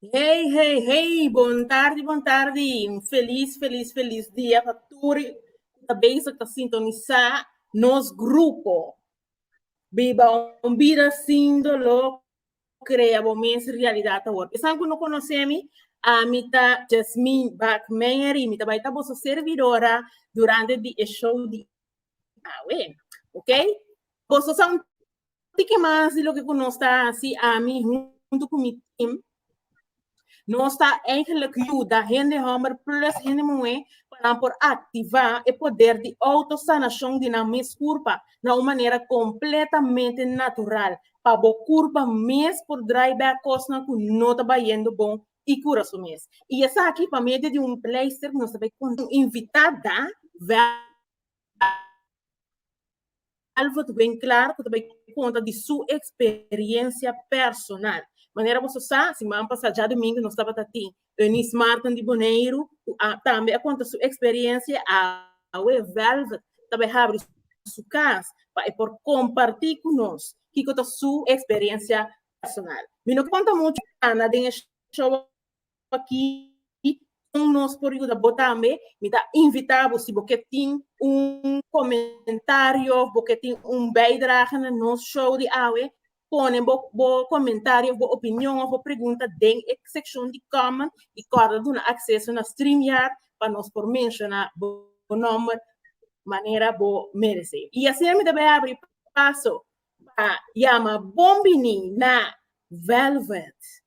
Hey, hey, hey, bon tardi, bon tardi. Un feliz, feliz, feliz dia pa turi ta bezig ta sintonisa nos grupo. Biba un bida sin dolor, crea bo mes realidad awor. Esan ku no konosé mi, a mi ta Jasmine Bak Mary, mi ta bai ta boso servidora durante di e show di awe. Ok? Boso sa un Di ke mas di loke ku nos ta hasi, ami huntu ku mi tim, nos ta eigenlik yuda hende hòmber plus hende muhé pa nan por aktivá e poder di outosanashon di nan mes kurpa na un manera kompletamente natural pa bo kurpa mes por drai bèk kosnan ku no ta bayendo bon i kura su mes. I esaki pa medio di un pleister ku nos ta bai kontinua invitá da vèk. Alvo ta bien claro cu ta bay conta di su experiencia personal. Manera boso sa, siman pasa djadomingo nos tabata tin Eunice Martin di Boneiru cu a tambe a conta su experiencia awe Velvet ta bay habri su cas pa e por comparti cu nos kico ta su experiencia personal. Mi no conta mucho cana den e show aki con nos por yuda bo tambe. Mi ta invita bo si bo ke tin un comentario of bo ke tin un bijdrage na nos show di awe, pone bo bo comentario of bo opinion of bo pregunta den e seccion di comment y corda duna acceso na streamyard pa nos por menciona bo nomber manera bo merece. Y asina mi ta bay abri paso pa yama Bonbini na Velvet.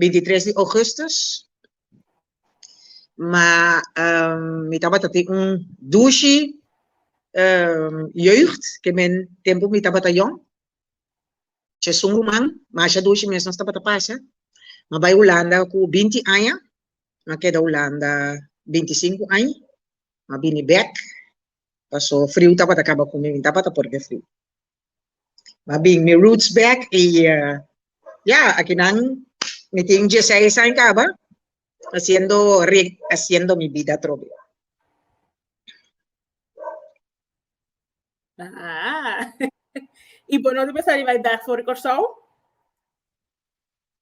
bintitres di ougùstùs, ma mi tabata tin un dushi jeugd ke men tempu mi tabata yòn, Tjessùn Ruman, masha dushi mes nos tabata pasa, ma bai Hulanda ku binti aña, ma keda Hulanda binti sinku aña, ma bini bèk, pasó friu tabata kaba ku mi, mi tabata por ke friu. Ma bin mi roots back y ya aki nan mi tin diesseis aña caba haciendo rehaciendo mi bida atrobe. Haa y bo no ta pensá riba e dag for di Kòrsou?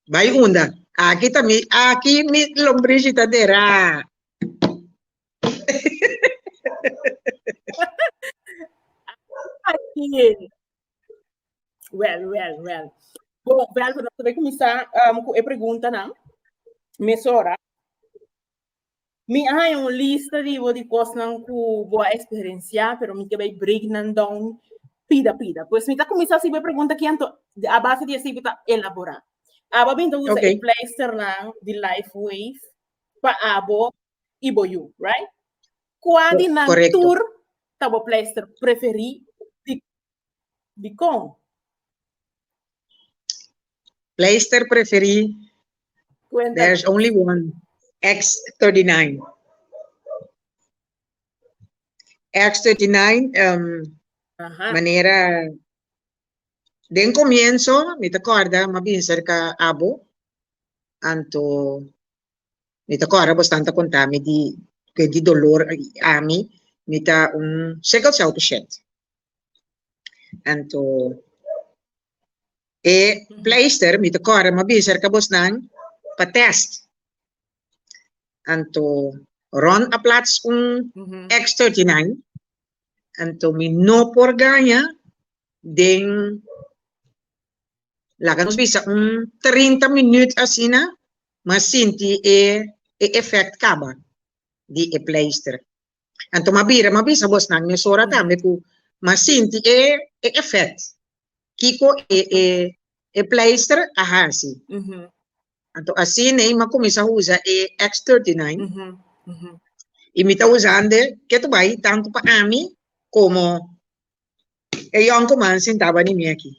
Bai unda. Aki ta mi, aki mi lombrici ta dera. Aki. Well, well, well. Bon, well, we comenzar um, cu e pregunta nan. Mesora. Mi a haña un lista di bo di kosnan ku bo a eksperensiá, pero mi ke bai break nan dòun pida pida. Pues mi ta kuminsá sibi e pregunta aki anto a base di esei bo ta elaborá. Abo a binti usa e pleisternan di Life Wave pa abo i bo yu, right? Kua di nan tur ta bo pleister preferí di Dikon? Pleister preferí Kuenta. There's only one. X39. X39, um, Aha. manera den comienzo mi ta corda ma bin cerca abo anto mi ta corda bostan ta contami di que di dolor ami mi ta un sickle cell patient Anto e pleister mi ta kòrda mi a bisa er kabos nan pa tèst. Anto Ron a plats un X thirty nine anto mi no por gaña den laga nos bisa un trinta minüt asina mi a sinti e efèkt kaba di e pleister. Anto m'a bira m'a bisa bosnan mesora tambe ku m'a sinti e e efèkt kiko e e e pleister a hasi. Anto asina ei m'a kuminsá usa e X-39 i mi ta usan de ketu bai tantu pa ami komo e yòn kuman sintá bani mi aki.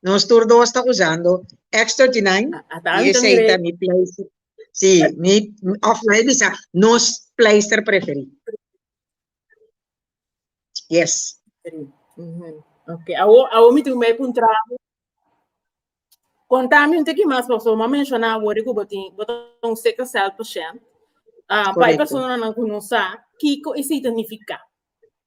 Nos tur dos ta usando X39 y esey ta mi pleister, si, mi, of lae bisa, nos pleister preferi. Yes. Ok, awo, awo mi tin bay puntrabo. Contami un tiki mas, paso ma menciona awor ku bo tin, bo ta un sickle cell patient. Ah, bay Correcto. persona nan ku no sa, kiko esey ta nifica?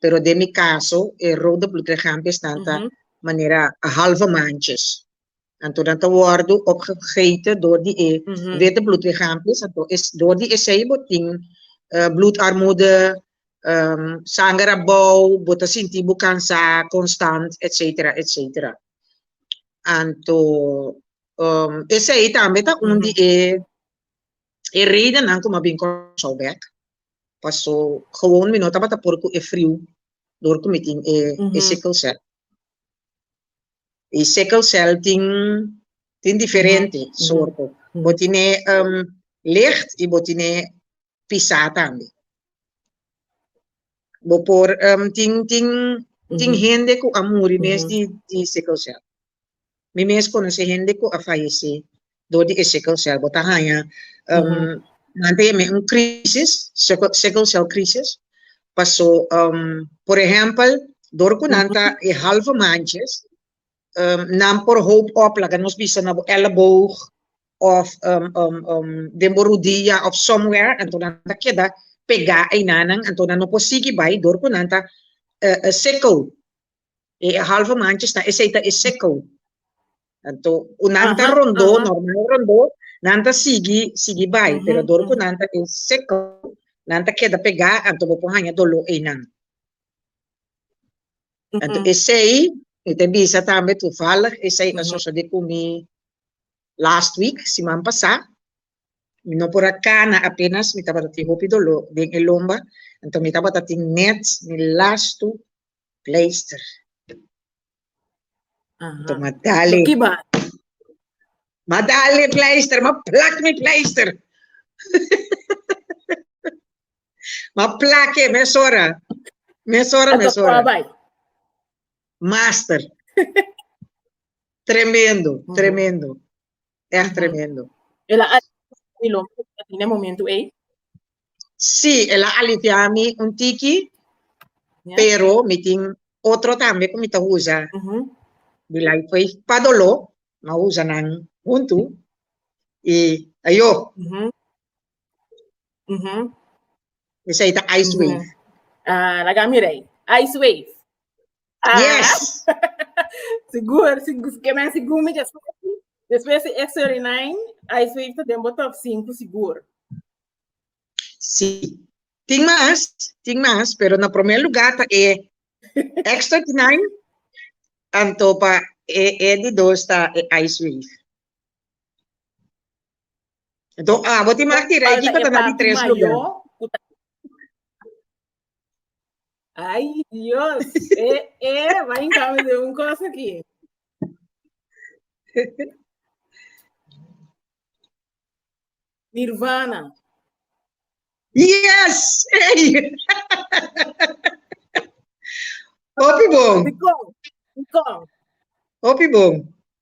pero den mi caso e rode bloedlichaampi esnan ta manera halve manches, anto nan ta wordo opgegeten door di e wete bloedlichaampi, anto door di esey bo tin bloedarmoede, sanger a bou, bo ta sinti bo cansa constant, etc. Etc. Anto esey tambe ta un di e redennan cu mi a bin con South Beck. paso gewoon mi no tabata por cu e friu door cu mi tin e sickle cell. Y sickle cell tin tin diferente soorto, bo tine licht y bo tine pisa tambe. Bo por tin tin tin hende cu a muri mes di sickle cell. Mi mes konosé hende ku a fayesé dor di e sickle cell. Bo ta haña mante yam'é un krísis, sickle cell krísis. Pasó, por ehèmpel, dor ku nan ta e halve manches, nan por hoop òp, laga nos bisa na bo elleboog òf den bo rudia òf somewhere, anto nan ta keda pegá einan, anto nan no por sigui bai dor ku nan ta sickle. E halve manches ta esei ta e seco. Tanto cu nan ta rondó, normal rondó, nan ta sigui, sigui bai, pero dor cu nan ta e seco, nan ta keda pegá, anto bo por haña doló einan. Anto esei, mi ta bisa tambe, toevallig, esei a sosodé cu mi last week, siman pasá, mi no por a kana apenas, mi tabata tin hopi doló den e lomba, anto mi tabata tin nèt mi lastu Pleister. Aha. Toma dale. Kiba? Ma dale pleister, ma plak mi pleister. ma plake, mesora. Mesora, mesora. Master. tremendo, tremendo. Echt tremendo. El a mi lo en el momento ei? Sí, el a aliviar a mi un tiki, yeah. pero mi tin otro también que mi ta usa. Uh -huh. Di la fue pa dolor, ma usa nan junto. Y ayo, uh -huh. Mhm. Esei ta ice wave. Mhm. Ah, laga mira ei. Ice wave. Ah, Yes. Sigur, sigur, si kemen sigur mi just Después de X39, ice wave ta den bo top 5 sigur. Sí. Tin mas, tin mas, pero na primer lugar ta e X39, anto pa e, e di dos ta e Ice Wave. Enton, ah, bo tin mas tira aquí para tener tres lugar. Ay, Dios, eh, eh, va en cambio de un cosa aquí. Nirvana. Yes! Hey! Hopi bom. Hopi bom.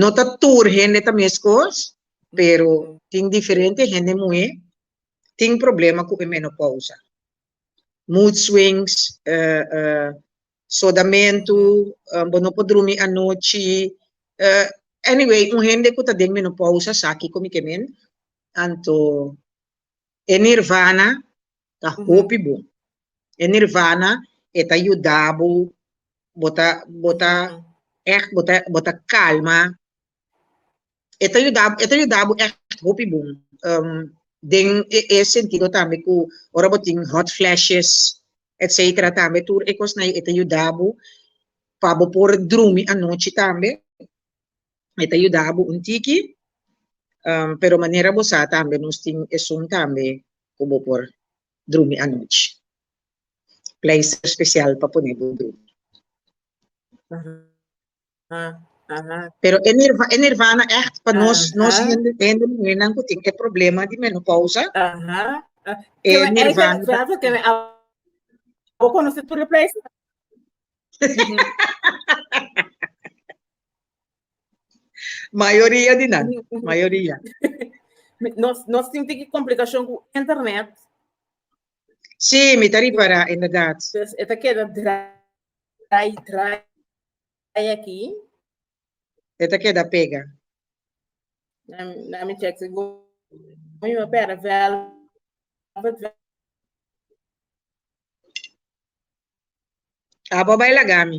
No ta tur hende ta meskos, pero tin diferente hende muhé tin problema ku e menopousa, mood swings, sodamentu, bo no por drumi anochi, anyway un hende ku ta den menopousa sa kiko mi ke mende, anto e nirvana ta hopi bon. E nirvana e ta yuda bo, bo ta, bo ta ègt, bo ta, bo ta kalma, e ta yuda, e ta yuda bo ègt hopi bon, um, den e, e sentido tambe ku ora bo tin hot flashes, etcetera tambe tur e kosnan e ta yuda bo pa bo por drumi anochi tambe. e ta yuda bo un tiki, pero manera bo sa tambe nos tin esun tambe ku bo por drumi anochi. Pleister spesial pa pone bo drumi. Pero e nirvana ègt pa nos nos hende muhernan ku tin e problema di menopousa, e nirvana. Mayoria di nan, mayoria. Nos, nos tin tiki complicacion cu internet. Sí, mi ta ripara, inderdaad. Entonces, e ta keda draai, draai aki. E ta keda pega. Na, na mi check si go, mi ma pera velvet, Abo a bai laga mi.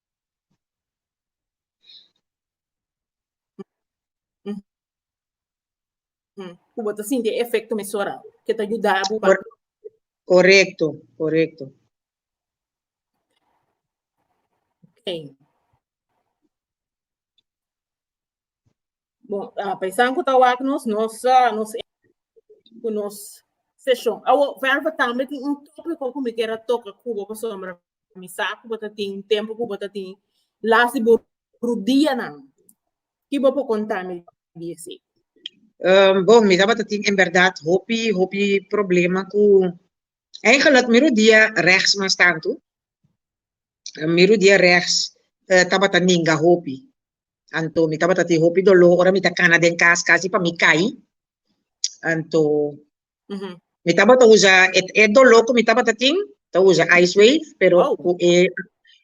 ku bo ta sinti e efekto mes ora ke ta yuda bo pa. Korekto, korekto. Ok. Bon, uh, ah, paisan ku ta wak nos, nos, uh, nos, ku nos session. Awo, verba tambe tin un tópiko ku mi kera toka kubo pa sombra. Mi sa kubo ta tin, tempo kubo ta tin. Las di bo rudia nan. Kibo po kontami diesi. Um, bon, mi tabata tin en verdad hopi, hopi problema ku... Eigenlijk, mi rudia rechts mas tanto. Mi rudia rechts uh, tabata ninga hopi. Anto mi tabata tin hopi doló ora mi ta kana den kas kasi pa mi kai. Anto mi tabata usa e e doló ku mi tabata tin ta usa ice wave pero Wow. ku e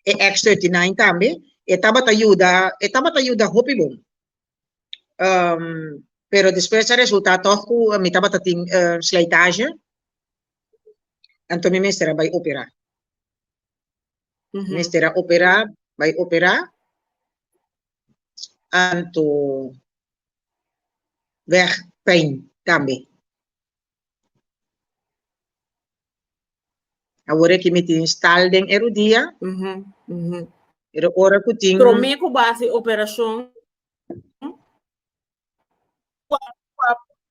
e X39 tambe e tabata yuda e tabata yuda hopi bon. Um, pero despues a resultá tòg ku mi tabata tin eh, slijtage. Anto mi mester a bai operá. mester a operá, bai operá, anto bèg pijn tambe. Awor aki mi tin stal den e rudia, pero ora ku tin. Promé ku bo hasi operashon,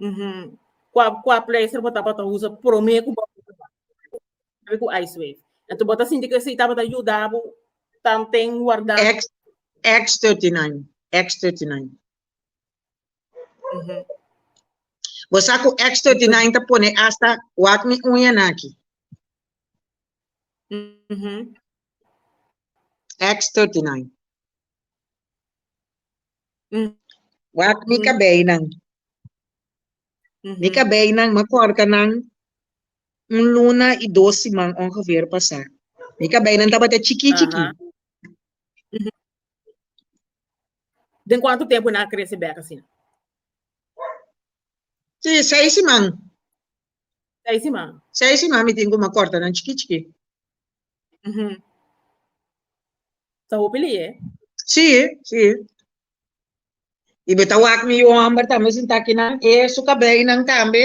Uhum. Qua, qua placer bo tabata usa promé ku bo sabe ku ice wave. Enton bo ta sinti ku esei tabata yuda bo tanten warda. X, X39, X39. Uhum. Bo sa ku X39 ta pone asta wak mi uña nan aki. Uhum. X39. Wak mi kabeinan. Mi kabeinan, ma korta nan un luna i dos siman ongeveer pasá. Mi kabeinan tabata chikí chikí. Den kuantu tempu nan a krese bèk asina? Sí, seis siman. Seis siman. Seis siman mi tin ku ma korta nan chikí chikí. Ujú. Sa hopi li e. Sí, sí. Y beta wak mi yu homber tambe sin ta kinan e su cabey nan tambe.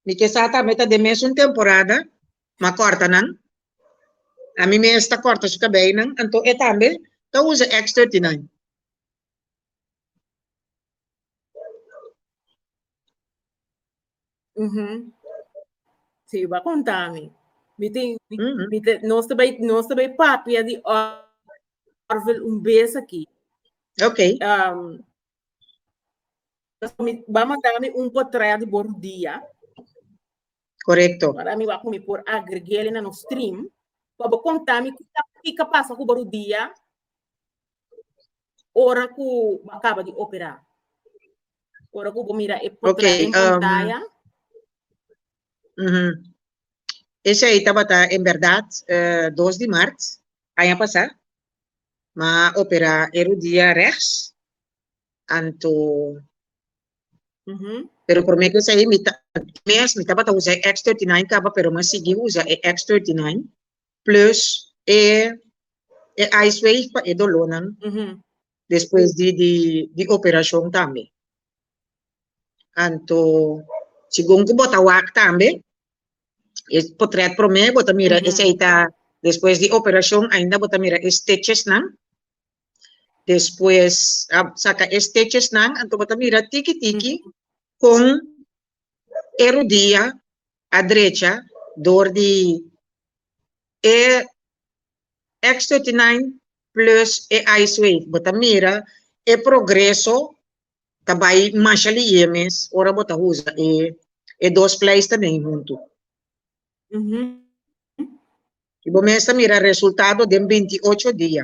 Mi ke sa tambe ta de mes un temporada, ma corta nan. A mi mes ta corta su cabey nan, anto e tambe ta usa X 39. Si, bo a konta mi. Mi tin, mi ta, nos ta bai, nos ta bai papia di Orville un bes aki. Ok. mi ba manda mi un potret di bo Rudia. Korekto. Para mi ba mi por agregele na nos stream, pa bo konta mi kiko a pasa ku bo Rudia. ora ku bo kaba di operá. Ora ku bo mira e potra en pantaya. Okay, um, uh -huh. Esei tabata en berdad uh, dos di mart, aña pasá. Ma operá e rudia rechts. Anto... Uh -huh. Pero por mí que sei, mi ta, mes, mi tabata usa X39 capa, pero me sigui usa X39. plus e e ice wave pa e dolor nan despues di di di operacion tambe anto segun cu bo ta wak tambe e potret prome bo ta mira esey ta despues di operacion ainda bo ta mira e stitches nan despues a saca e stitches nan anto bo ta mira tiki tiki con e rudia a drecha door di e X thirty nine plus e ice wave bo ta mira e progreso ta bay masha liye mes ora bo ta usa e e dos pleister den huntu y bo mes ta mira resultado den binti ocho dia.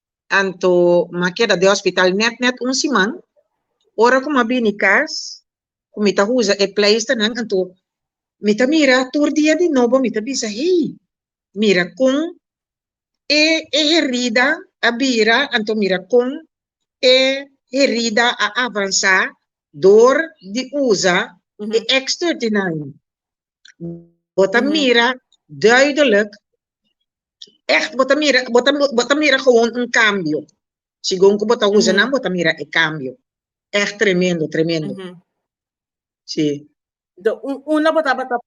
Anto m'a keda den hospital net net un siman. Ora cu m'a bini cas, cu mi ta usa e pleisternan, anto mi ta mira tur dia di nobo, mi ta bisa, hey, mira con e e herida a bira, anto mira con e herida a avansa dor di usa e extra di nan. Bota mira duidelijk, echt bota mira, bota, bota mira gewoon un cambio. Segun cu bota usa nan, bota mira e cambio. Echt tremendo, tremendo. Ujú. Sí. Do, un, una botaba ta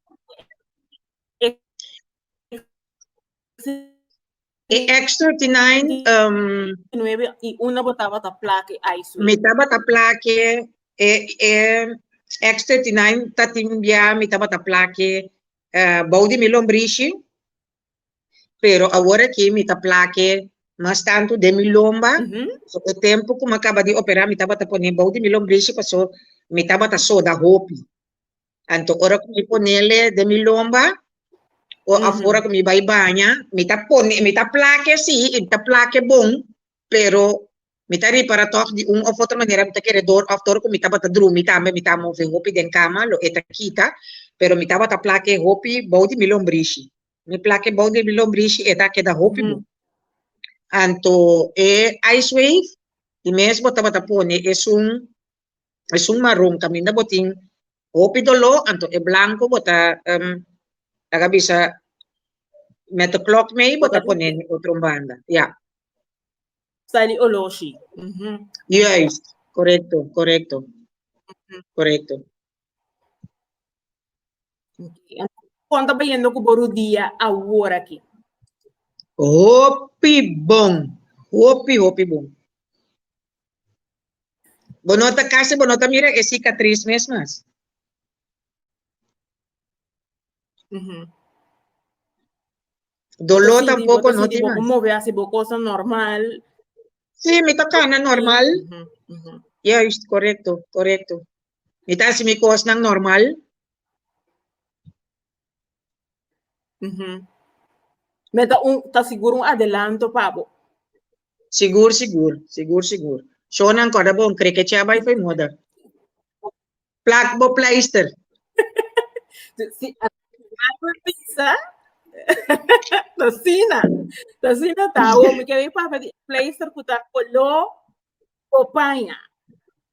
E extra tinijn, um, 19 y una botaba ta plaque ISO. mi tabata plaque, e, e extra tinijn ta timbia, mi tabata plaque eh, bou di mi lombrishi, pero awor aki mi ta plaque mas tanto den mi lomba, Mhm. so e tempo ku mi a kaba di opera mi tabata pone bou di mi lombrishi, paso mi tabata soda hopi. Anto ora ku mi ponele den mi lomba o afora ku mi bai baña, mi ta pone, mi ta plake sí, i ta plake bon, pero mi ta ripara tòg di un òf otro manera mi ta kere dor òf ora ku mi tabata drumi tambe mi ta move hopi den kama, lo e ta kita, pero mi tabata plake hopi bou di mi lombrishi. Mi plake bou di mi lombrishi e ta keda hopi bon. Anto e Icewave, di mes bo tabata pone esun Esun maron kaminda bo tin hopi doló, anto e blanco bo ta um laga bisa mete clock mei bo ta pone den otro banda, ya. Sali olor shi. Mhm. Juist, correcto, correcto, correcto. Con ta bayendo cu bo rodia aworaki? Hopi bon, hopi hopi bon. Bo no ta casi bo no ta mira e cicatriz mes mas. Mm -hmm. Dolor tampoco no te mas. Move así bo cosa normal. Sí, mi ta cana normal. Mm -hmm. Mm -hmm. Juist, correcto, correcto. Mi ta si mi cosa normal. Me ta un, ta sigur un adelanto pa bo. Sigur, sigur, sigur, sigur. Shownan corda bon, cre que chea bay foi moda. Plak bo pleister. Si algo pisa, ta sina, ta sina ta. Wo mi ke wi papa di pleister kuta kolo o paña.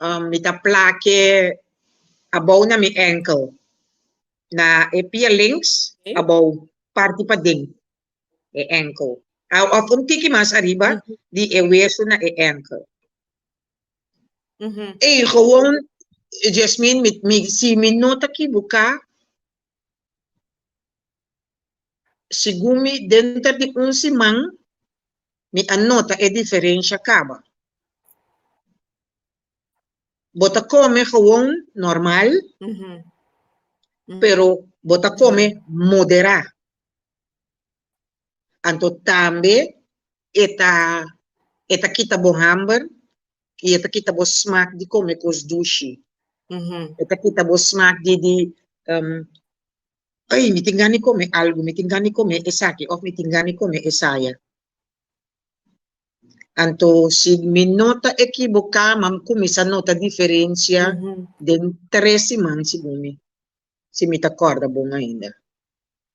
Um, mi ta plake abou na mi enkel. Na e pia links, okay. abou, parti pa den, e enkel. Ah, of un tiki mas arriba, mm -hmm. di e wesu na e enkel. Mm -hmm. E gewoon, Jasmine, mi, mi, si mi nota ki buka, Segun mi, denter di un siman mi a nota e diferensha kaba. Bo ta kome gewoon normal, pero bo ta kome moderá. Anto tambe e ta e ta kita bo hamber i e ta kita bo smak di kome kos dushi. E ta kita bo smak di di um ei mi tin gana di kome algu, mi tin gana di kome esaki òf mi tin gana di kome esaya. Anto si mi no ta ekiboká mam kuminsá nota diferensia den tres siman segun mi, si mi ta kòrda bon ainda.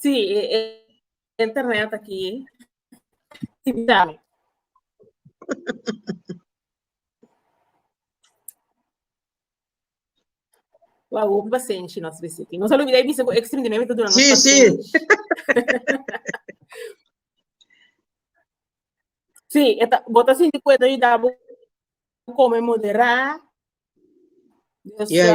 Sí, internet aki Wou hopi pasenshi nos visiti. Nos alumida e bisa ku ekstrim dinemi ta duna nos pasenshi. Sí, sí. sí, eta bota sinti ku eta yuda bu kome moderá. Yes.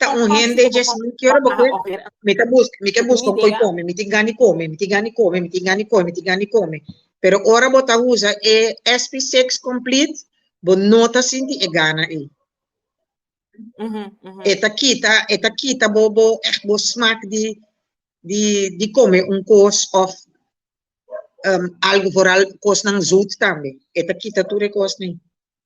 ta un hende dje si mi kier bo ke mi ta buska mi ke buska un koi kome mi tin gani kome mi tin gani kome mi tin gani kome mi tin gani kome pero ora bo ta usa e sp six complete bo no ta sinti e gana ei e ta kita e ta kita bo bo eht bo smak di di di kome un kos of um algo vooral kosnan zoet tambe e ta kita tur e kosnan.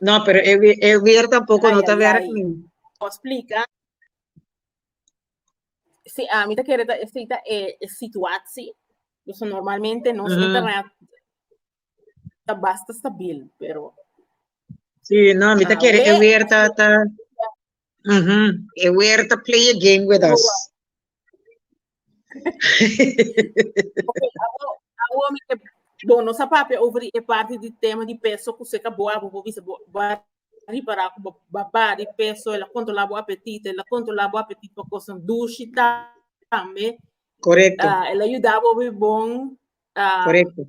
No, pero e, wi- e weer tampoco Ay, no ta ay, werk ay. ni. Por explica. Si a mí te quiere ta cita e e situatie. Dus normalmente nos Mhm. internet ta basta stabil, pero Sí, no, mi ta Ah, quiere e weer. weer ta, ta, Uhum. E Huerta play a game with us. Okay, abo, abo mi ke bon no sa papia over e parte di tema di peso ku seka bo abo bo bisa bo ba ripara ku bo ba bari peso la kontrola bo apetito la kontrola bo apetito pa kosan dushi ta tambe Correcto, ah ela yuda bo bi bon ah correcto.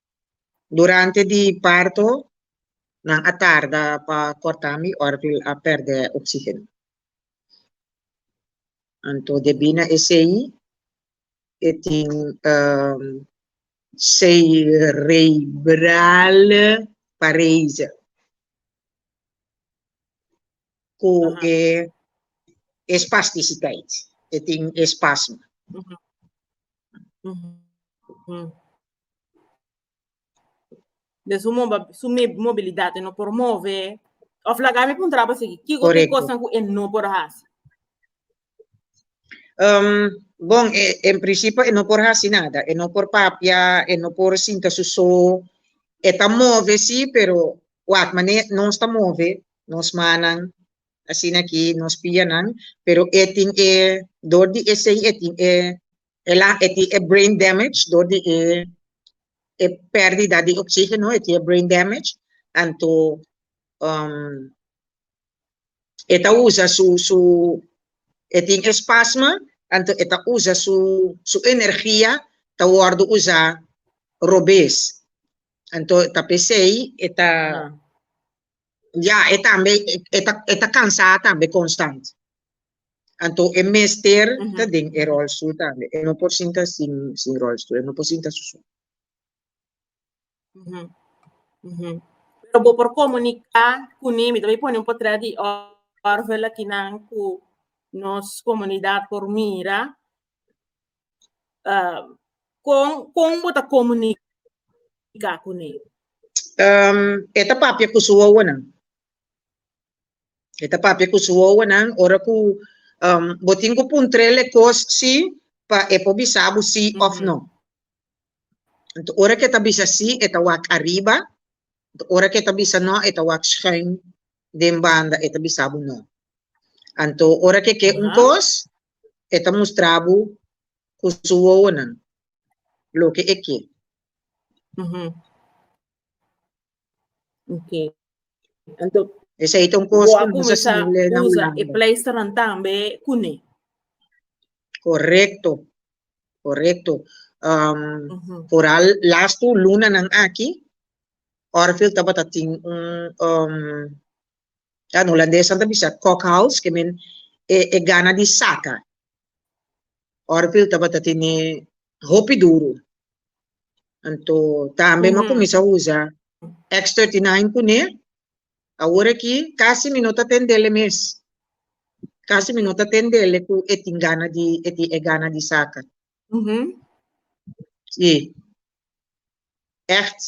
Durante di parto nan a tarda pa korta mi orpi a pèrdè oksígeno. Anto debí na esei e tin serebral parese ku e espastisitait, e tin espasma. de su moba- su me- mobilidad e no por move of laga mi puntra pa sigui kico ki Correcto. cosa cu e no por hasi Um, bon, e, en principio, e no por hacer nada. E no por papia, e no por sinta su so. E ta move, sí, pero wat mané no está move, nos manan, así aquí, nos pianan, pero e tin e, door di e sei, e tin e, El a e tin e brain damage dor di e e perdida di oxigeno e tin e brain damage tanto um e ta usa su su e tin e spasma tanto e ta usa su su energia ta wordo usa robes anto ta pesey e ta Ya, e tambe e ta e ta cansá tambe constant. Anto e mester ta den e rolstoel tambe. E no por sinta sin sin rolstoel, e no por sinta su su. Pero bo por comunica cu ni, mi ta bay pone un potret di orfelakinan cu nos comunidad por mira. Um, con, con bo ta comunica con él? Um, esta papia con su owanan. Esta papia con su owanan. Ora que um, bo tin que puntrele cos sí, pa e po bisa bo sí mm -hmm. of no. Entonces, ora que ta bisa sí, eta wak arriba. Anto ora ke ta bisa no e ta wak schuin den banda e ta bisa bo no. Anto ora ke ke un kos e ta mustra bo ku su wowonan loke e ke. Ok. Anto bo a kuminsá usa e pleisternan tambe kune. Correcto, correcto. Um, uh -huh. Vooral last two luna nan aki, Orville tabata tin un, um, dan Holandés aan te bisa cockhouse, que men e, e gana di saca. Orville tabata tin e hopi duro. Anto tambe uh -huh. ma comienza usa X39 cune, Awor aki casi mi no ta tendele mes. Casi mi no ta tendele cu e tin gana di, e tin e gana di saca. Si. Echt.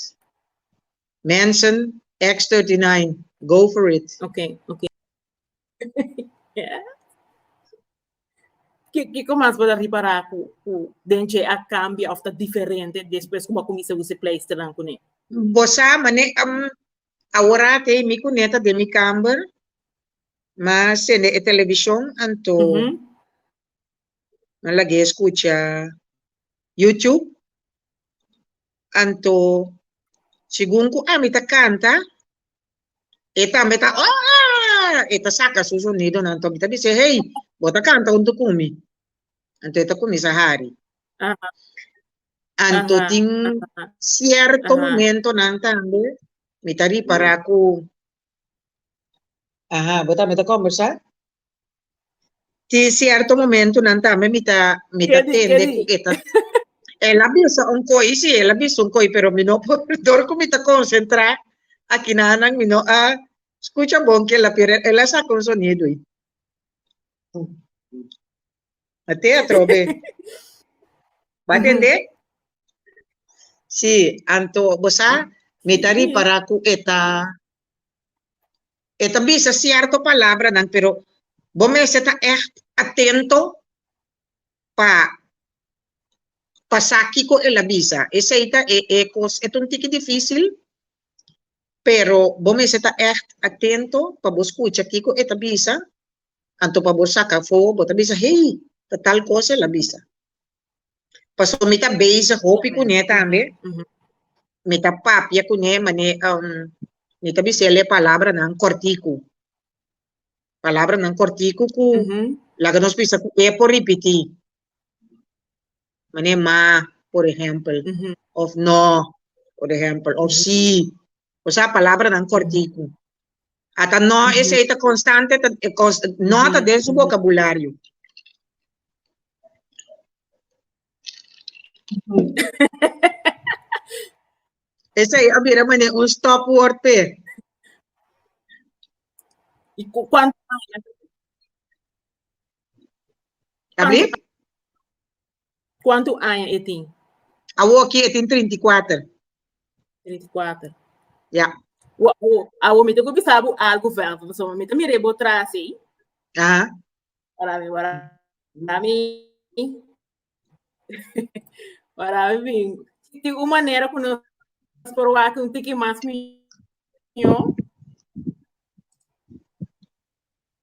Mensen, X 39, go for it. Ok, ok. Ki, kiko mas bo ta ripara cu, cu den dje a cambia of ta diferente despues cu bo a cuminsa usa e pleisternan cune? Bo sa, mane, Awor aki mi ku Neta den mi kamber mi a sende e televishon anto mi a lag'é skucha YouTube. Anto segun ku ami ta kanta e tambe ta ooaa e ta saka su sonidonan. Anto mi ta bis'é, hey bo ta kanta huntu ku mi, anto e ta kuminsá hari. Anto Aha, tin aha, cierto aha. momentonan tambe mi ta ripara cu aha, bo tambe ta conversa? Tin cierto momentonan tambe mi ta mi ta Kedi, tende kedi. cu e ta el a bisa un coi, si el a bisa un coi, pero mi no por dor cu mi ta concentra aki na nan mi no a scucha bon kila pero el a saca un sonido. A te atrobe. Bo a tende? Si, anto bo sa, mi ta ripará ku e ta, e ta bisa sierto palabranan, pero bo mester ta ègt atento pa pa sa kiko el a bisa. Esei ta e e kos, e ta un tiki difísil, pero bo mester ta ègt atento pa bo skucha kiko e ta bisa, Anto pa bo saka afó, bo ta bisa, Hey, ta tal kos el a bisa. Pasobra mi ta bezig hopi kuné tambe, mi ta papia kuné mane-, mi ta bisa el e palabranan kòrtiku, palabranan kòrtiku ku laga nos bisa ku e por ripití. Mane ma, por ehempel, of no, por ehempel, of si. Bo sa palabranan kòrtiku. Ata no esei ta konstante, ta, e kos, no ta den su bokabulario. Esei a bira mane un stòpwòrd p'e. I ku kuantu aña? Abri? Kuantu aña e tin? Awoki e tin trinta i kuater. Trinta i kuater. Ya. Awo mi ta ku bisa bo algu vèlta, pasobra mi ta mira bo tras'ey. Aha. Para mi, para mi. Para mi, tin un manera ku nos por wak un tiki mas mió.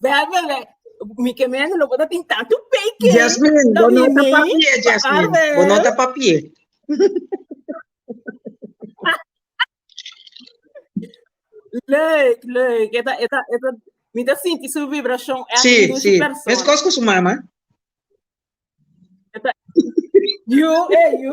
Bebele, mi ke mene lo bota tin tanto peike. Jasmine, bo no ta papie, Jasmine. Bo no ta papie. leuk, leuk. Eta, eta, eta. Mi ta sinti su vibracion. Si, si. Mes kos ku su mama. Eta, you, eh, you.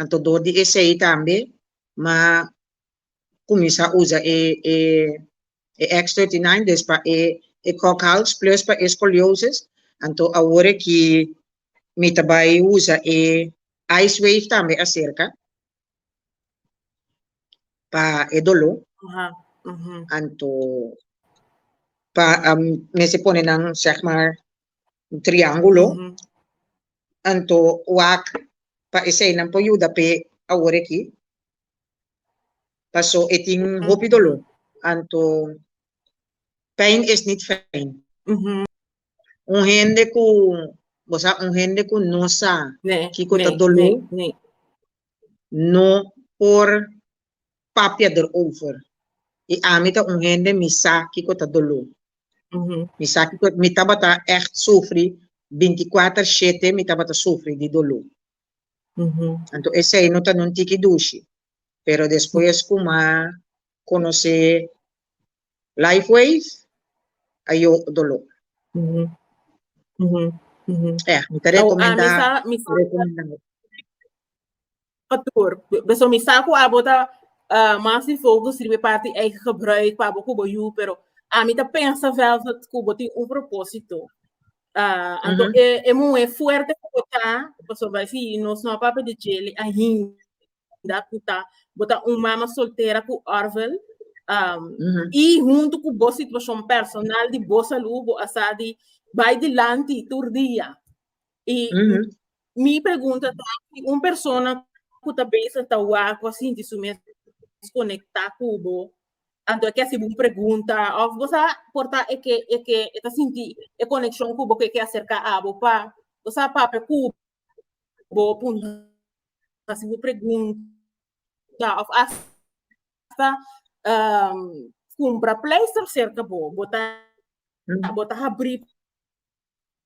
Anto dor di esei tambe m'a kuminsá usa e e X thirty nine des pa e e kòk hals plus pa e scoliosis. Anto awor aki mi ta bai usa e ice wave tambe aserka pa e doló. Anto pa mester pone nan zeg maar un triangulo anto wak pa esei nan por yuda p'e awor aki paso e tin hopi dolo anto pijn is nit fijn un hende ku bo sa un hende ku no sa kiko ta dolo no por. papia der over. I ami ta un hende mi sa kiko ta doló. Mi sa kiko mi tabata ègt sufri binti kuater shete mi tabata sufri di doló. Anto esei no ta un tiki dushi. Pero despues ku mi a konosé Lifewave a yo doló. Ea mi ta rekomendá. Pastoor, beso mi sa ku abo ta ah, mas enfokus riba e parti eigen gebruik pa abo ku bo yu, pero ami ta pensa Velvet ku bo tin un propósito. Ah, anto Mhm. e e muhe fuerte ku bo ta, pasobra si nos no a papia di djele ainda ku ta bo ta un mama soltera ku Orville. Ah, Mhm. i huntu ku bo situashon personal di bo salud bo a sa di bai dilanti tur dia. Y mi pregunta ta, si un persona cu ta bezig ta wak cu a sinti su mes conecta cu bo, anto e ke hasibo un pregunta of bo sa por ta e ke e ke e ta sinti e coneccion cu bo cu e ke acerca abo pa bo sa papia cu bo puntra hasibo pregunta of hasta cumpra pleister cerca bo bo ta bo ta habri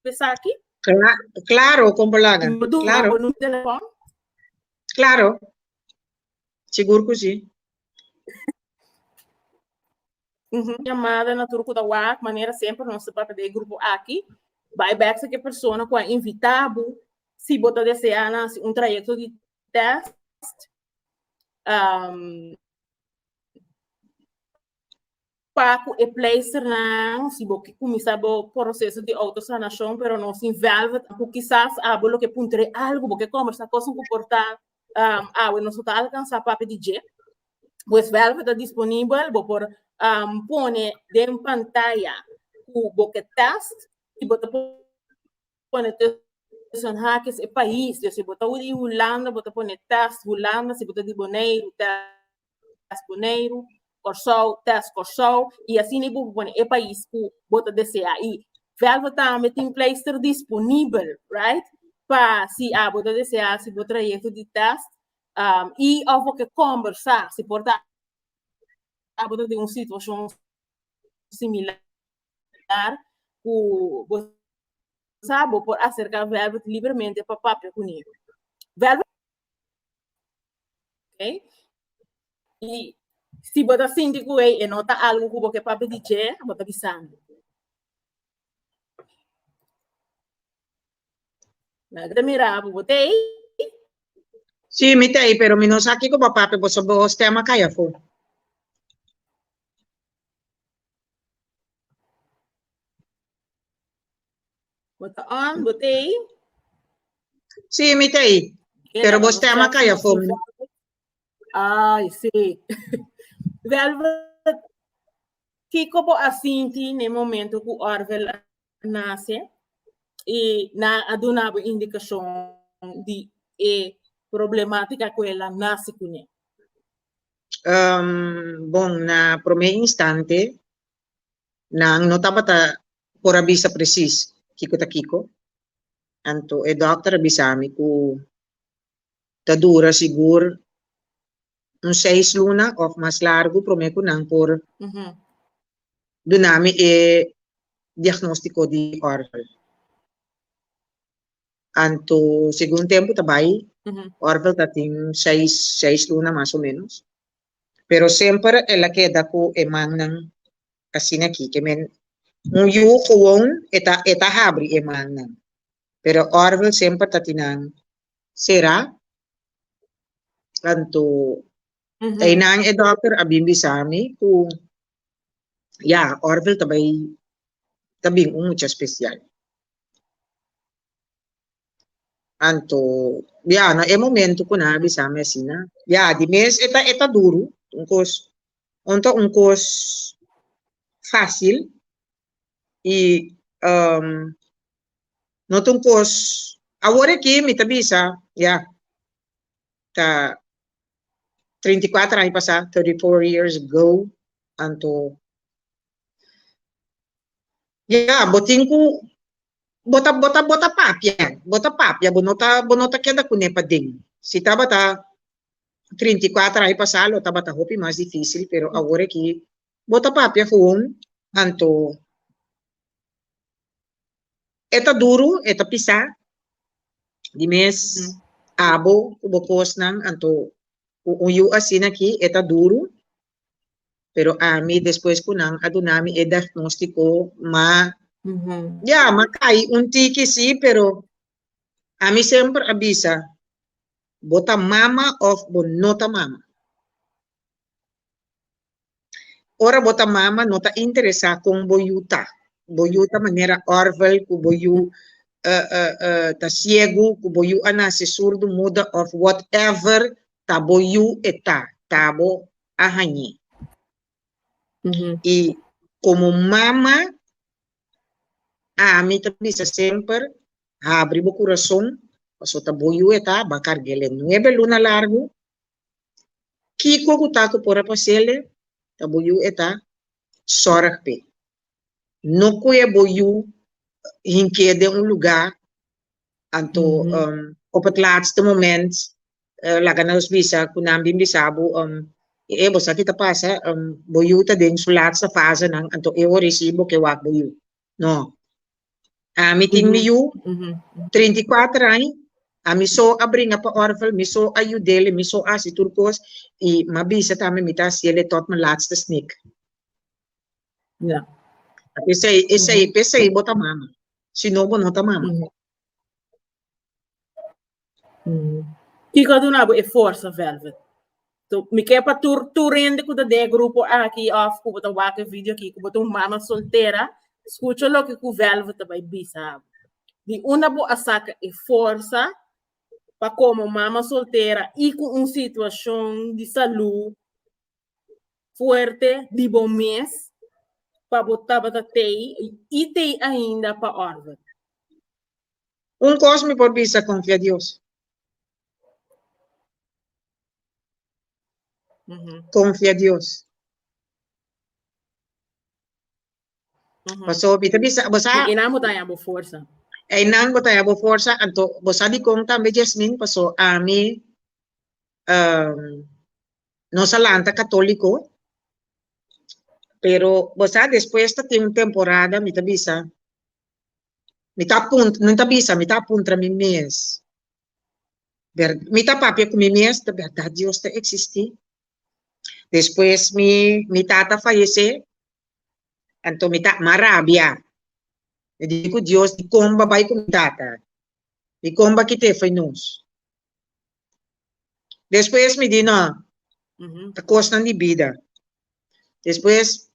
Esaki? Cla claro, con bolaga. Bo duna claro. bo número telefon? Claro. Sigur que sí. Uhum. Chamada na tur kuda wak, manera sempre nos te papel de grupo aki. Bai back sa ke persona ku a invita bu, si bo ta desea na hasi un trayecto di test. Um, pa cu e pleisternan, si bo ki cuminsa bo proceso di autosanacion pero no sin velvet, cu kisas abo lo ke puntre algo, bo ke conversa cos cu por ta awe nos ta alcansa papia di dje, pues velvet ta disponibel, bo por pone den pantaya cu bo ke test y bo ta pone tussen hakes e pais, si bo ta di Hulanda bo ta pone test Hulanda, si bo ta di Boneiru test. test Boneiru, Kòrsou, test Kòrsou i asina bo pone e pais ku bo ta desea i. Velvet tambe tin pleister disponibel, right? Pa si a bo ta desea si bo trayekto di test um, i of bo ke kombersá si por ta a bo ta den un situashon similar ku bo sa bo por aserká Velvet libremente pa papia ku neve. Velvet Okay? Y si bo ta sinti cu ei e no ta algo cu bo ke papia di dje, bo ta bisa mi. Nan ke ta mira bo, bo ta ei? Sí, mi ta ei, pero mi no sa kiko bo a papia, boso bo stem a kai afó. Bo ta on, bo te ei? Sí, mi te ei. Pero bo stem a kaya fo. Ay, sí. Velvet, kiko bo a sinti ne momento ku Orvel a nase i na a duna bo indikashon di e problematika ku el a nase kuné? Um, bon, na promé instante nan no tabata por a bisa presis kiko ta kiko. Anto e dòkter a bisa mi ku ta dura sigur un seis luna òf mas largu promé ku nan por duna mi e diagnóstiko di òrvel. Anto segun tempu ta bai òrvel ta tin seis seis luna mas o ménos, pero semper el a keda ku e mannan asina ki ke men un yu gewoon e ta e ta habri e mannan pero orgel semper ta tin nan sera anto einan e dokter a bin bisa mi ku ya orgel ta bai ta bin un mucha spesial. Anto, bia, no e momento cu nan a bisa mi asina. Ya, di mes e ta, e ta duro, un cos, no ta un cos facil y no ta un cos, awor aki mi ta bisa, ya, ta treinta i cuatro aña pasa, thirty four years ago, anto, ya, bo tin cu Bo ta bo ta bo ta papia bo ta papia bo no ta bo no ta keda kuné paden si tabata trinta i kuater aña pasá lo tabata hopi mas difísil pero awor aki bo ta papia gewoon anto e ta duru e ta pisá di mes abo ku bo kosnan anto un yu asina aki e ta duru Pero ami despues cu nan a duna mi e diagnostico ma ya m'a cay un tiki si pero ami semper a bisa bo ta mama of bo no ta mama. Ora bo ta mama no ta interesa con bo yu ta, bo yu ta manera Orvel cu bo yu ta ciego, cu bo yu a naci surdo, muda of whatever ta bo yu e ta, ta bo a hañ'é. I komo mama, ami ta bisa semper, habri bo kurason, pasobra ta bo yu e ta, a ban karg'ele nuebe luna largu, kiko ku ta ku por a pasele, ta bo yu e ta, sòrg p'e. No kue bo yu hink'é den un lugá Anto mm -hmm. um, op het laatste moment uh, eh, laga nos bisa ku nan bin bisa bu um, e eh, bosa kita pasa um, boyu ta den su laatste fase nan anto e ori si bo ke wak boyu no a mi ting mi yu 34 ani a mi so a bringa pa orfel mi so a yudele mi so a si tur kos i ma bisa tame mi ta siele tot me laatste snik Ya. Esei, esei, mm. esei bo ta mama. Si no, bo no ta mama. Mm. Mm. Kiko duna bo e forsa, Velvet? Tu, mi ke pa tur, tur rende ku de grupo aki of ku bo ta wake video ki ku bo ta mama soltera. Escucho lo ke ku Velvet ta bai bisa. Di una bo asaka e forsa pa como mama soltera y con un situación de salud fuerte di bo mes pa bo tabata tei i tei ainda pa order. Un kos mi por bisa, konfia Dios. Konfia Dios. Pasobra i ta bisa, bo sa. I einan bo ta haña bo forsa. Einan bo ta haña bo forsa, anto bo sa dikon tambe Jasmine, paso ami Nos a lanta católico, pero bo sa despues ta tin un temporada mi ta bisa, mi ta apun, no ta bisa, mi ta apuntra mi mes, ber, mi ta papia cu mi mes, ta berdad Dios ta existi? Despues mi, mi tata fayece, anto mi ta, m'a rabia, mi di cu Dios dicon b'a bay cu mi tata? Di kon ba kité fo'i nos? Despues mi di, No, ta kosnan di bida. Despues,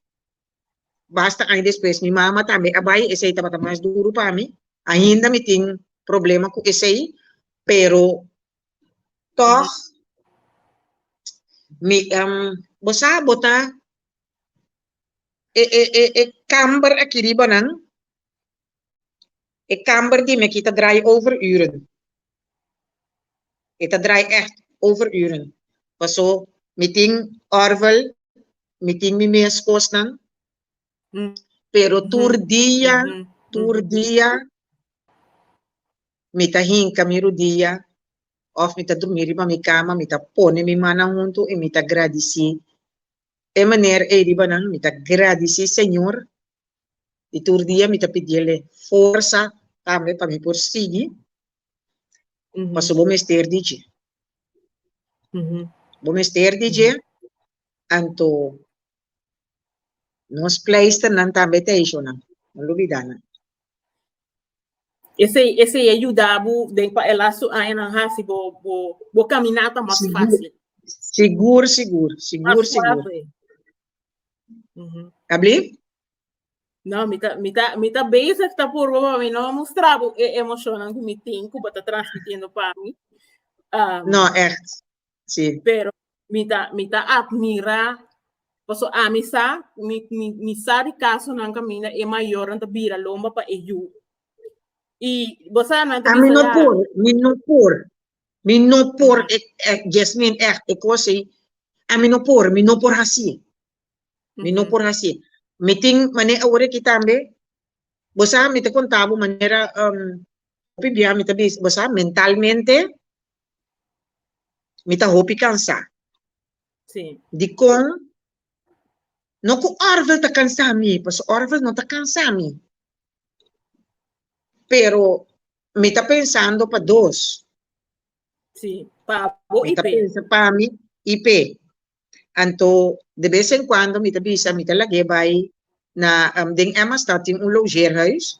basta aña despues, mi mama tambe a bai, esei tabata mas duru pa mi. Ainda mi tin problema ku esei, pero tòg mi, bo sa bo ta e kamber aki riba nan, E kamber di mi aki ta drai overuren. E ta drai ègt overuren. Paso mi tin òrvel, mi tin mi mes kosnan, pero tur dia, tur dia mi ta hinka mi rudia òf mi ta durmi riba mi kama, mi ta pone mi mannan huntu i mi ta gradisí. E maner ei riba nan, mi ta gradisí Señor y tur dia mi ta pidiel e forsa tambe pa mi por sigui paso bo mester di dje bo mester di dje anto nos pleisternan tambe ta hecho nan no lo bida nan. Esey esey a yuda bo den pa e lastu añanan haci bo bo bo camina ta mas facil. Sigur sigur sigur sigur. Abli? No, mi ta, mi ta, mi ta bezig ta purba pa mi no mustra bo e emocionnan ku mi tin ku bo ta transmitiendo pa mi. Um, No, echt. Sí. Pero mi ta, mi ta admira, paso a mi sa, mi, mi, mi sa di caso nan camina e mayor nan ta bira lomba pa e yu. Y bosa nan ta A mi bisa no ya, por, mi no por. Mi no por e e Jasmine echt e cos ei a mi no por mi no por haci mi no por haci mi tin mane awor aki tambe bo sa mi ta conta bo manera hopi bia mi ta bisa bo sa mentalmente mi ta hopi cansa Sí. dikon no ku Orville ta kansa mi, paso Orville no ta kansa mi. Pero Mi ta pensando pa dos. Sí, pa bo Mi y ta pe. pensa pa mi i pe. Anto de bes en cuando mi ta bisa mi ta lag'é bai na em, den Emmastadt tin un logeerhuis.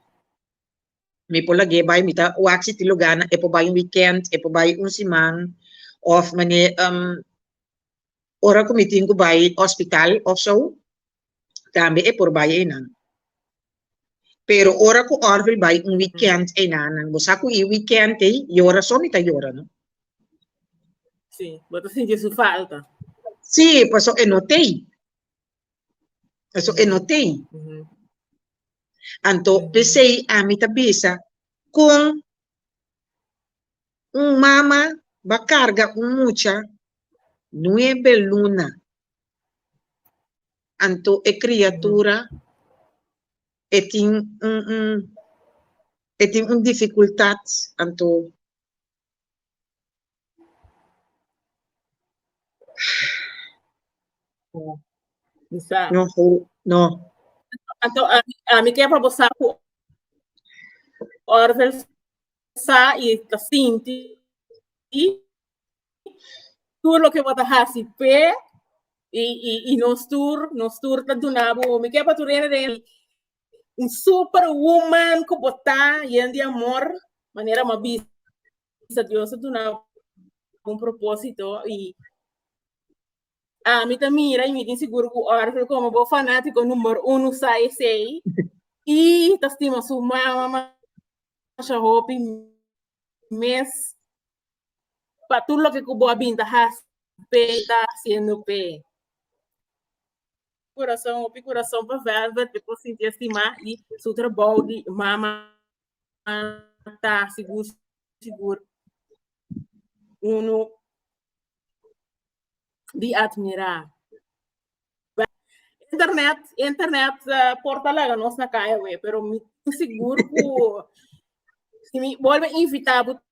Mi por lag'é bai, mi ta wak si tin lugá na e por bai un weekend, e por bai un siman of manera em, ora cu mi tin cu bai hospital of zo. tambe e por bai einan. Pero ora ku Orville bai un weekend einan, nan bo sa ku e weekend ei yora so mi ta yora, no? Sí, bo ta sinti su falta. Sí, paso e no tei. Paso e no tei. Ujú. Anto Ujú. pesei ami ta bisa kon un mama ba karga un mucha nuebe luna Anto e kriatura e tin un un e tin un difikultat, anto no. Anto mi ke pa bo sa ku Orvel sa i ta sinti. tur loke bo ta hasi p'e i i i nos tur nos tur ta duna bo homi ke pa tur reda den un super wuman ku bo ta yen di amor manera bo a bisa Dios a duna bo un propósito i ami ta mira i mi tin sigur ku ora ku komo bo fanátiko number uno sa esei i ta stima su mama masha hopi mes. pa tur loke ku bo a bin ta hasi, p'e ta hasiendo p'e. Kurason, hopi kurason pa Velvet, e por sinti estimá i su trabou di mama ta sigur sigur unu di atmirá. Internet, internet por ta laga nos na kaya awe, pero mi ta sigur ku si mi bolbe invitá bo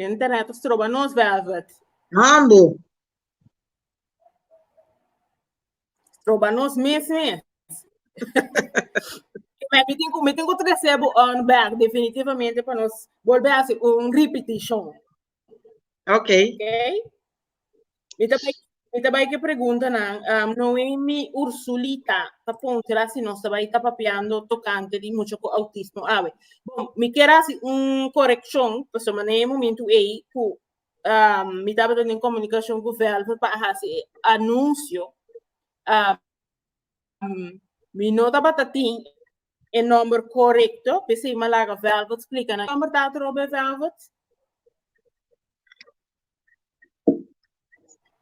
Jen ta rato stroba nos Velvet. Hando. Stroba nos mes mes. Mas me tengo, me tengo trece bu on back definitivamente para nos volver a hacer un repetition. Okay. Okay. Mi ta bai, mi ta bai ke pregunta na um, Noemi Ursulita ta ponchera si nos ta bai ta papiando tocante di mucho con autismo ave. Bon, mi quiero hacer un corrección, pues so mané momento ei ku um, mi ta hablando en comunicación ku Velvet pa hacer anuncio um, Mi no tabata tin e nomber korekto, p'esei mi a laga Velvet splika nan. Ki nomber ta atroba e Velvet?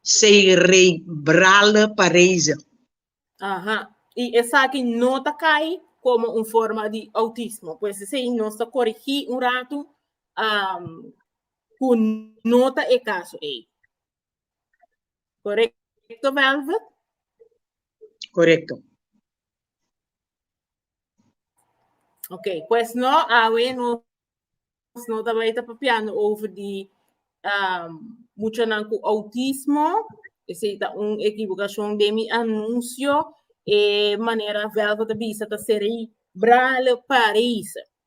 Sei rei brale pareise. Aha. I esaki no ta kai komo un forma di outismo. Pues esei nos ta korigí un ratu ku no ta e kaso ei. Correcto, Velvet? Correcto. Ok, pues no, awe no, no ta baita papiando over di um, mucho nan ku autismo, ese ta un equivocación de mi anuncio, e manera Velvet ta bisa ta seri brale Paris.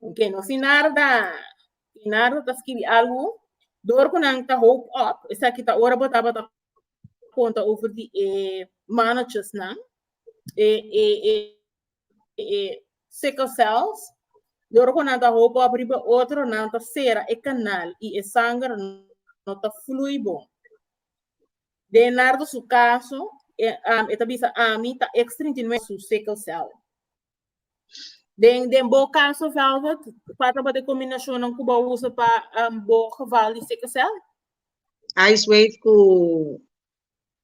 Bueno, si Narda, si Narda ta skibi algu, dor ku nan ta hope up, esaki ta ora bo tabata konta over di e manochis nan, e, e, e, e sickle cells, dor ku nan ta hope up riba otro, nan ta sera e kanal i e sanger no ta flui bon. Den Narda su kaso, e, am, e ta bisa, ami ta X39 su sickle cell. Den den bo caso Velvet, cua tabata e combinacionnan cu bo usa pa um, bo geval di sickle cell? Ice wave ku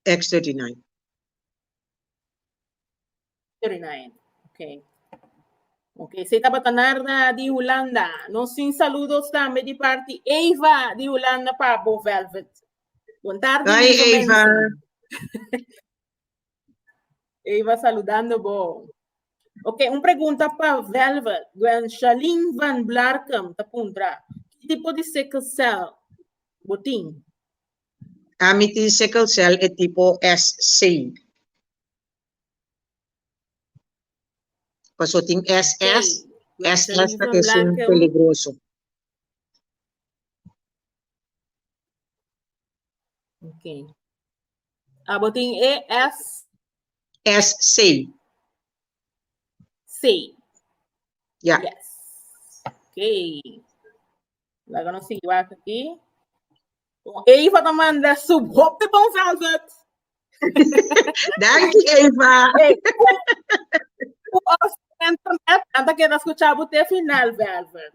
X39. 39. Ok. Ok, se tabata Narda di Hulanda. Nos sin saludos tambe di parti Eva di Hulanda pa bo Velvet. Bon tarde, Hi lieve Eva. mensen. Ey va saludando bo. Ok, un pregunta pa Velvet. Gwen Shalin van Blarkum ta puntra. Ki tipo di sickle cell bo tin? Ami tin sickle cell e tipo S6. Paso tin SS. SS ta esun peligroso. Ok. Abo tin e S. S sei. Sei. Ja. Yes. Ok. Laga nos sigui wak aki. O Eva ta manda su hop de bon velvet. Danki Eva. Hey, u os internet anta keda escucha bu te final velvet.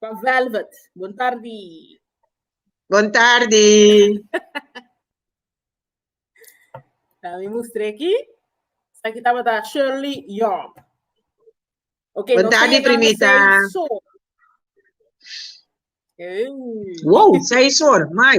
Pa Velvet. Bon tardi. Bon tardi. Dame mi mustre aquí. Aquí tabata Shirley Young. Ok, Bon tardi, primita. Hey. Wow, seis horas, mai.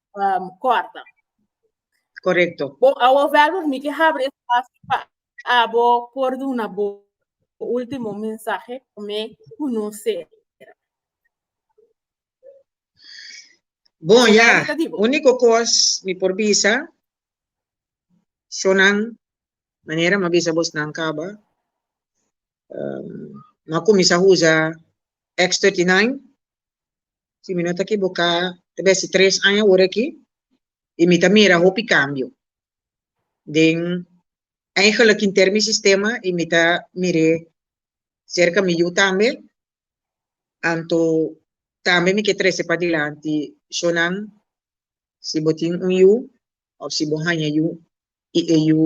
um, corta. Correcto. Bo, awo verbo mi que habri espacio pa abo por duna bo último mensaje me conocer. Bon, ya. Único cos mi por bisa, sonan, manera ma bisa bos nan caba, um, ma comienza usa X39, Si mi no ta kiboká, ta besi tres aña ora aki i mi ta mira hopi kambio. Den, eigenlijk hinter mi sistema i mi ta mir'é serka mi yu tambe. Anto tambe mi ke trese padilanti shónan. Si bo tin un yu, Of si bo haña yu i e yu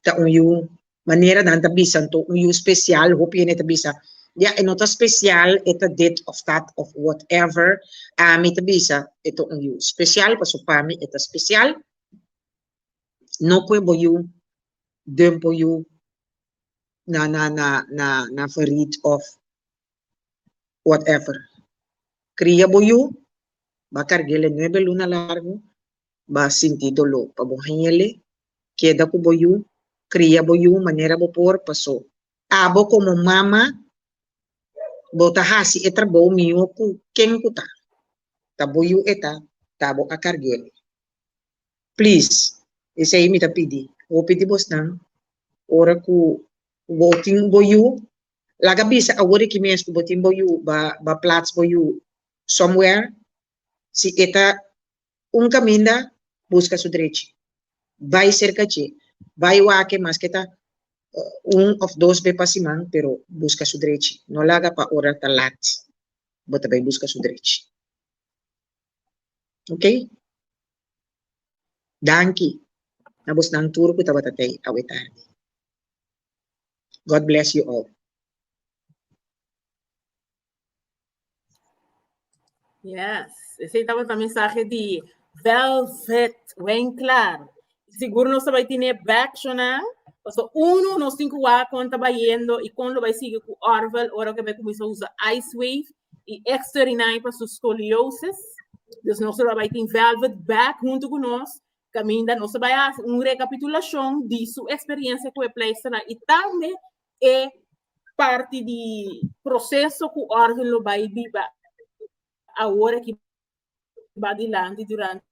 ta un yu, manera nan ta bisan to, un yu spesial, hopi hende ta bisa, Ya, e no ta spesial, e ta dit of dat of whatever, ami ta bisa e ta un yu spesial pasobra pa mi e ta spesial. No pue bo yu den bo yu na na na na na farit of whatever. Cria bo yu, ba carguele nuebe luna largo, ba sinti dolo pa bo hengele, keda cu bo yu, cria bo yu manera bo por paso. Abo como mama bo ta haci e trabou miho cu ken cu ta, ta bo yu e ta, ta bo a carguele. Please, esey mi ta pidi hopi di bosnan, ora cu bo tin bo yu, Laga bisa awor aki mes ku bo tin bo yu ba ba plats bo yu somewhere. Si e ta un kaminda buska su drechi. Bai serka dje. Bai wak e maske ta un òf dos be pa siman pero buska su drechi. No laga pa ora ta lat bo ta bai buska su drechi. Ok. Danki na bosnan tur ku tabata tei awe tardi. God bless you all. Yes, ese tabata mensaje di Velvet, buen claro. Seguro nos vai tener backchona, paso uno nos tin kuwa kon taba yendo y kon lo vai sigue ku Orvel ora que vai comienza usa Ice Wave y X39 pa su scoliosis. Dus nos lo vai tin Velvet back junto con nos Kaminda nos ta bai hasi un rekapitulashon di su eksperiensia ku e pleisternan i tambe e parti di proseso ku Orvin lo bai biba awor aki badilanti durante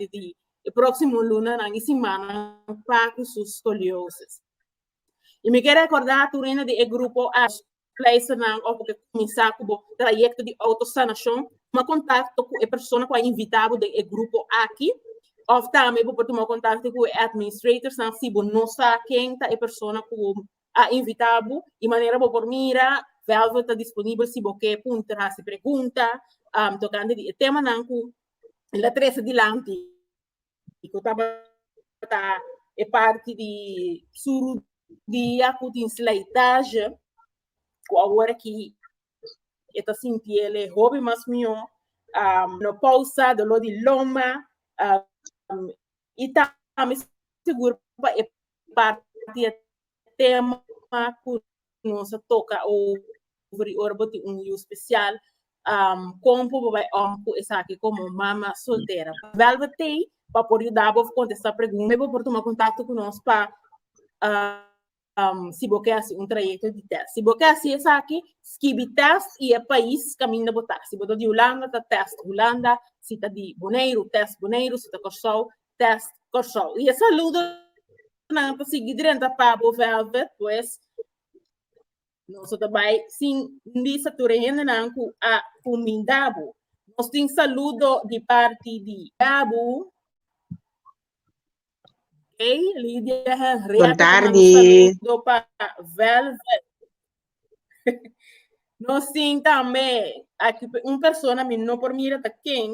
di e próksimo lunanan i simannan pa ku su skoliosis. I mi ke rekordá tur hende di e grupo a Pleisternan oko ke kuminsá ku bo trayekto di outosanashon, tuma kontakto ku e persona ku a invitá bo den e grupo aki. Òf tambe bo por tuma kontakto ku e administratorsnan si bo no sa ken ta e persona ku a invitá bo. E manera bo por mira, Velvet ta disponibel si bo ke puntra, hasi pregunta tokante di e temanan ku el a trese dilanti. y cu tabata e parti di suru dia cu tin slijtage, cu awor aki e ta sinti el e hopi mas mijo, menopausa, dolor di loma, y tambe sigur pa e parti tema cu nos a toca over ora bo tin un yu special con por bo bay om cu esaki como mama soltera bel bo tey pa por yuda bo contesta pregunta y bo por tuma contacto cu nos pa si bo ke haci un trayecto di test si bo ke haci esaki skibi test y e pais caminda bo ta si bo ta di Hulanda ta test Hulanda si ta di Boneiru test Boneiru si ta Corsou test Kòrsou. I e saludonan ta sigui drenta pa Abu Velvet, pues nos ta bai sin bisa tur e hendenan ku a kuminda bo. Nos tin saludo di parti di Abu, Hey, Lydia Henrietta, Bon tarde. saludo pa Velvet. Nos tin tambe aki un persona mi no por mira ta ken,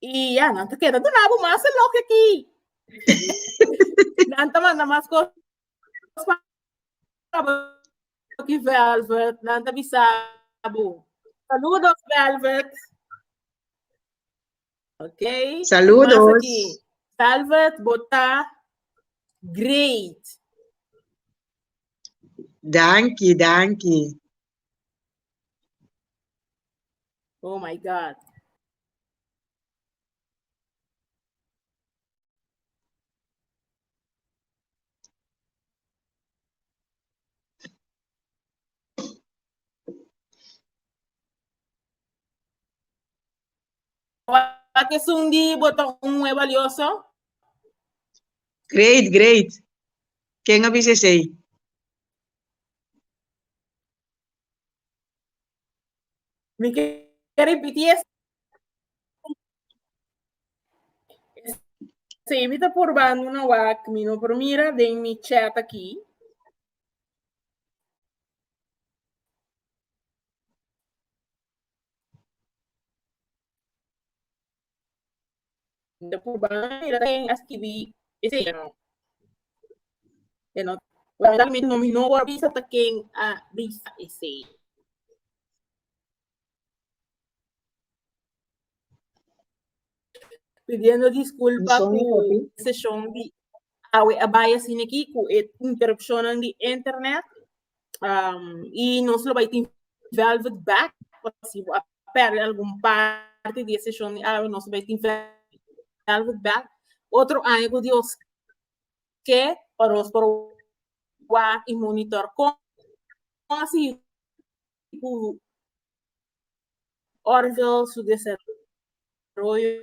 Y ya, nan ta queda de rabo más lo que aquí. nan ta manda más cosas aquí, Velvet. Nan ta bisabo. Saludos, Velvet. Ok. Saludos. Aquí. Velvet, bota. Great. Dankie, dankie. Oh my God. Wat esun di bo ta un muhe balioso? Great, great. Ken a bisa esei? Mi ke ripití esei. Esei mi ta purbando una wak, mi no por mira den mi chat aki. Nta por ban a mira ken a skibi esei a no. E no ta realmente no mi no por a bisa ta ken a bisa esei. Pidiendo disculpa Son mi ku kopi. seshon di awe a bai asina ki ku e interupshonnan di internet. um, y nos lo bai tin velvet bag, si a perde algun parte di session di awe, nos bai tin velvet bag. Otro año ku Dios ke pa nos por wa y monitor kon asi ku Orville su desarrollo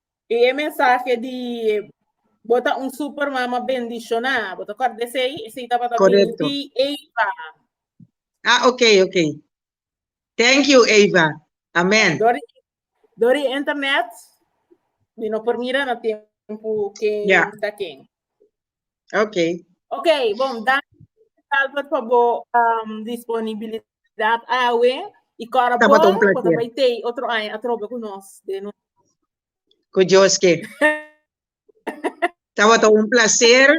Y e mensahe di Bo ta un super mama bendiciona, bo ta acorda esey? Esey tabata Correcto. di Eva. Ah, ok, ok. Thank you, Eva. Amen. Dori, dori internet, mi no por mira na tiempo que Ya. está aquí. Okay. Okay, bom, dan Albert pa bo um, disponibilidad awe y cora bon, Tabaton placer. bota bay tei otro año atrobe con nos. De no. Cu Dios que. Estaba todo un placer.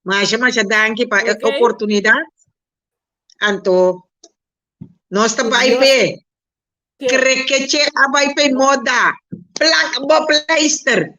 Masha, masha, danke pa okay. oportunidad. Anto, no está bij pe. Krekeche a bij pe moda. Plak bo pleister.